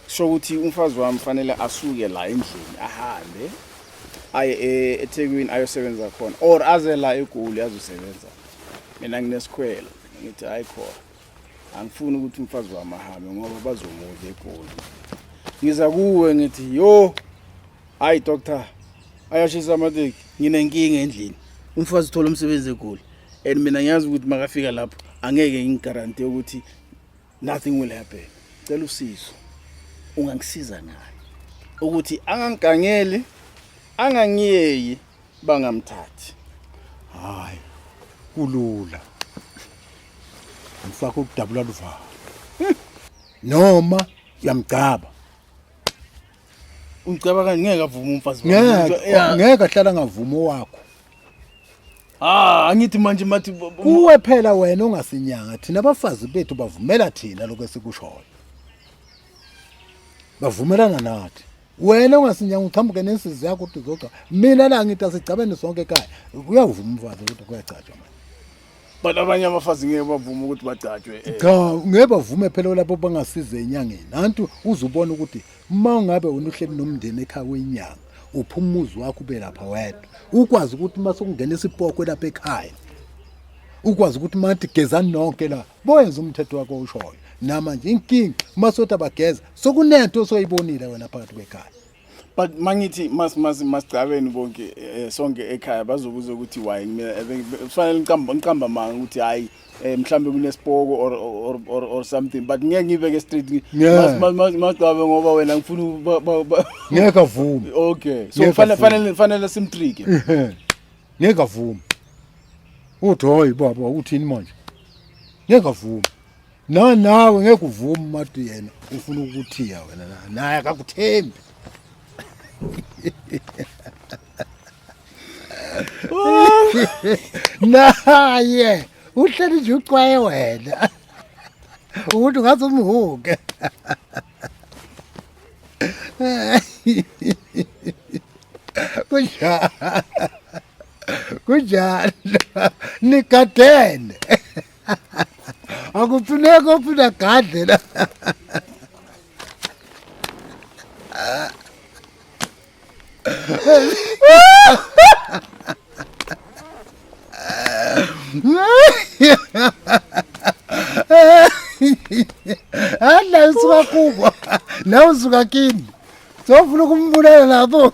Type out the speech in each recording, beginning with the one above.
sho ukuthi umfazi wami fanele asuke la endlini ahambe aye e- ethekwini ayosebenza khona or aze la egoli azosebenza mina nginesikhwelo ngithi hayi khona angifuni ukuthi umfazi wami ahambe ngoba bazomudla egoli ngiza kuwe ngithi yo hayi doctor ayashisa amateki nginenkinga endlini umfazi uthola umsebenzi egoli and mina ngiyazi ukuthi makafika lapho angeke ngigaranti ukuthi nothing will happen cela usizo ungangisiza naye ukuthi angangigangeli angangiyeyi bangamthathi hayi kulula ngifaka ukudabula luvalo noma uyamgcaba Ungicabanga ngeke avume umfazi ngeke ngeke ahlala ngavuma owakho Ah angithi manje mathi kuwe phela wena ongasinyanga thina abafazi bethu bavumela thina lokho esikushoyo bavumelana nathi wena ongasinyanga uqhamuke nensizi yakho ukuthi uzogca mina la ngithi asigcabene sonke ekhaya uyavuma umfazi ukuthi kuyagcatshwa manje but abanye abafazi ngeke bavume ukuthi bagcatshwe eh. cha ngeke bavume phela lapho bangasiza enyangeni nantu uzubona ukuthi uma ungabe unuhleli nomndeni ekhaya wenyanga uphuma umuzi wakho ube lapha wedwa ukwazi ukuthi uma sokungena isipoko lapha ekhaya ukwazi ukuthi mathi gezani nonke la boyenza umthetho wakho ushoyo namanje inkinga uma sothi abageza sokunento osoyibonile wena phakathi kwekhaya but mangithi mas mas masicabeni bonke eh, sonke ekhaya bazobuza ukuthi why mina eh, kufanele ngiqamba ngiqamba manga ukuthi hayi eh, mhlambe kunesipoko or or or, or something but ngeke ngibe ke straight masicaba ngoba wena ngifuna ngeke avume okay so fanele fanele fanele simtrike ngeke avume uthi hoyi baba uthini manje ngeke avume No nawe ngeke uvume uMadu yena ufuna ukuthiya wena naye akakuthembi. Naye uhleli nje ucwaye wena. Umuntu ngathi umhuke. Kunjalo. Kunjalo. Nigadene. akufuneki ofuna gadle la Hala usuka kubo la usuka kini sofuna ukumbulala lapho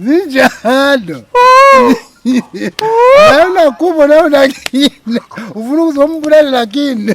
zinjalo naye unakubo naye unakini ufuna ukuzombulala nakini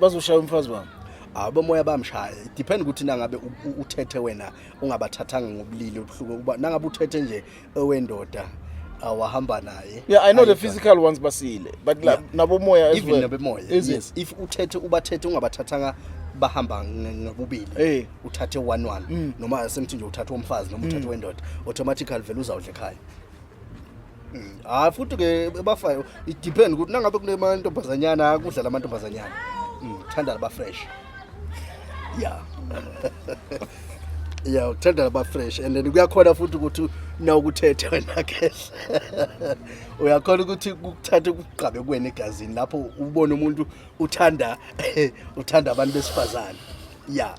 bazoshaya umfazi wami abomoya bamshaya depend ukuthi nangabe uthethe wena ungabathathanga ngobulili obuhluke ukuba nangabe uthethe nje owendoda awahamba naye yeah i know the physical ones basile but yeah. nabomoya as well nabomoya yes. yes if uthethe ubathethe ungabathathanga bahamba ngobubili hey. Eh. uthathe one one mm. noma semthi nje uthathe umfazi noma uthathe mm. wendoda automatically vele uzawudla ekhaya hayi mm. futhi ke bafayo idepend ukuthi nangabe kunemantombazanyana kudlala amantombazanyana mm, thanda laba fresh ya ya uthanda laba fresh and then kuyakhona futhi ukuthi na ukuthethe wena ke uyakhona ukuthi kukuthathe ukugqabe kuwena egazini lapho ubone umuntu uthanda uthanda abantu besifazane ya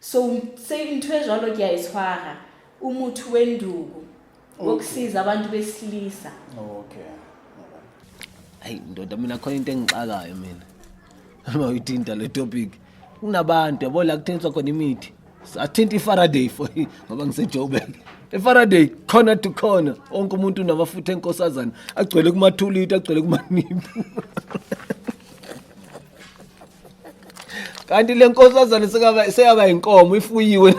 so se ntho e jwalo ke a e tshwara o motho we nduku wokusiza abantu besilisa okay hayi ndoda mina khona into engixakayo mina uma uyithinta le topic kunabantu yabo la kuthengiswa khona imithi athinta ifaraday for ngoba ngisejoburg efaraday corner to corner onke umuntu unamafutha enkosazana agcwele kumathuliti agcwele kumaniphu kanti le nkosazane sekaba seyaba inkomo ifuyiwe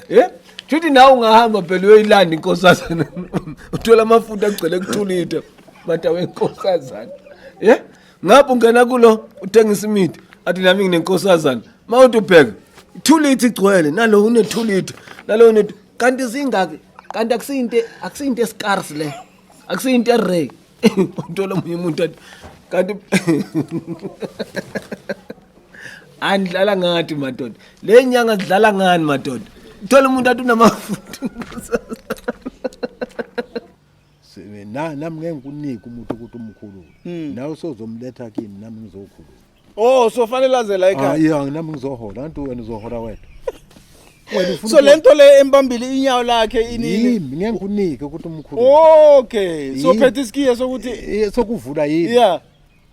eh Juthi nawe ungahamba phela uyoyilanda inkosazana. Uthola amafuta agcwele kuthulithe. Mata wenkosazana. Yeah? Ngapho ungena kulo uthengisa imithi. Athi nami nginenkosazana. Mawuthi ubheka. Ithulithe igcwele nalo unethulithe. Nalo une kanti zingaki? Kanti akusinte akusinte scarce le. Akusinte rare. uthola omunye umuntu athi kanti andidlala ngathi madoda le nyanga zidlala ngani madoda uthola umuntu athi unamafutha nami ngeke ngikunike umuntu ukuthi umkhulule nawe sozomletha kimi nami ngizokhulula Oh so fanele laze la ekhaya. Hayi anginami ngizohola antu wena uzohola wena. Wena ufuna So lento le embambile inyawo lakhe inini. yimi ngeke ngikunike ukuthi umkhulu. Okay. So Yini? phethe isikiye sokuthi Eh, Sokuvula yini? yeah.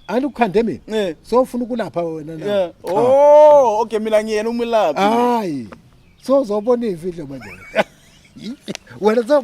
Anti ukhande mina. Eh. So ufuna ukulapha wena na? Yeah. Cha. Oh, okay mina ngiyena umlaphi. Hayi. So uzobona ivideo manje. Wena so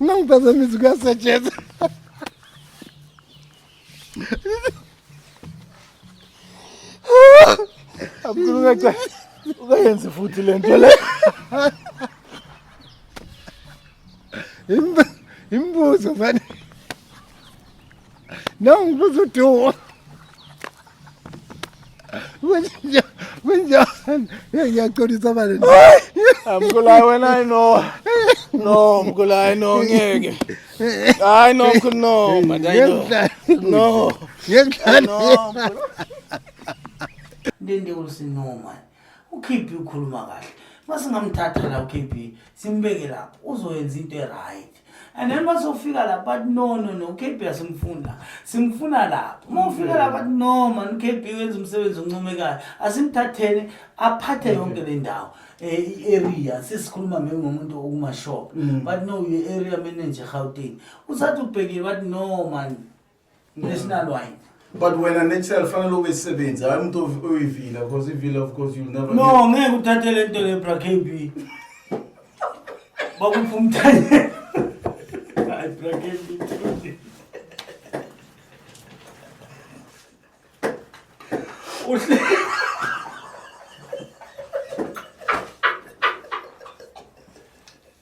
Uma ngiphazamisa kuyasetshenzwa. Abukulu ngathi ukayenze futhi lento le. Imbuzo manje. No, ngibuza udumo. Kunja, kunja. Ngiyaxolisa manje. Mkhulayi wena I know. No, Mkhulayi no ngeke. I know Mkhulu no, but I know. No. Ngiyakudlala. No. Ndende usinoma. UKP ukhuluma kahle. Masingamthatha la uKP, simbeke lapho. Uzoyenza into e-right. and then bazofika lapho bathi no no no ukb asimfuna simfuna lapho uma ufika lapho bathi no mani ukb wenza umsebenzi oncomekayo asimthatheni aphathe yonke le ndawo i-area eh, sesikhuluma maybe ngomuntu okumashop mm. but no ye-area manager gauteng usathi ubhekile bathi no mani National wide. but wena natural fanele ube sisebenzi hayi umuntu ovi- oyivila because ivila of course you'll never No, ngeke uthathe le nto le bra KB. Bakupha umthanyelo. Hayi bra KB. Uhle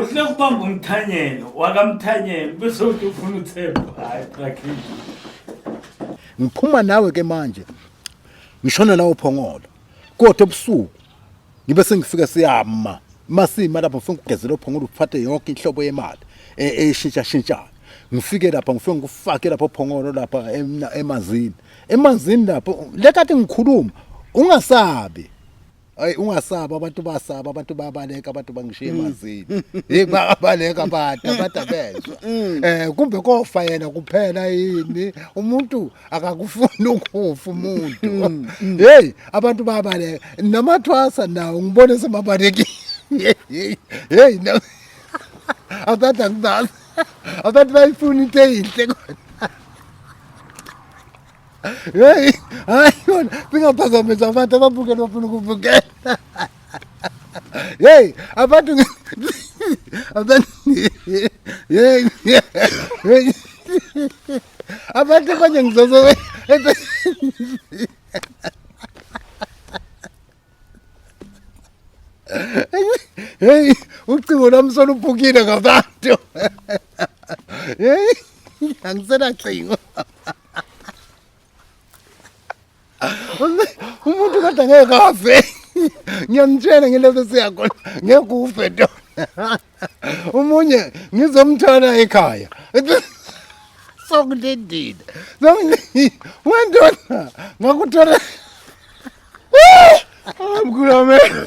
Uhle kubamba umthanyelo wakamthanyelo bese uthi ufuna uthemba. Hayi qakhi. Ngiphuma nawe ke manje. Ngishona nawe phongolo. Kodwa ebusuku ngibe sengifika siyama. Masima lapho ngifuna ukugezela ophongolo uphathe yonke inhlobo yemali e- eshintsha shintshayo. Ngifike lapha ngifike ngikufake lapho phongolo lapha emna- emanzini. Emanzini lapho lekade ngikhuluma ungasabi. Hayi ungasaba abantu basaba abantu babaleka abantu bangishiye mm. emazini. Hey babaleka abantu abantu abezwa. Mm. Eh kumbe kofa yena kuphela yini umuntu akakufuni ukufa umuntu. Mm, hey abantu babaleka namathwasa nawo ngibone semabalekile. Hey hey no. Abantu akudazi. Abantu bayifuna into eyinhle kodwa. Hey, hayi yona bingaphazamisa abantu ababukela bafuna ukubukela. Hey, abantu abantu hey hey abantu abanye ngizozo Hey, ucingo lami soluphukile ngabantu. Hey, angisenacingo. umuntu kodwa ngeke afe ngiyamtshela ngileso siyakhona ngeke ufe to umunye ngizomthola ekhaya sokulindile sokulindile wendona ngakuthola amkhulu amehlo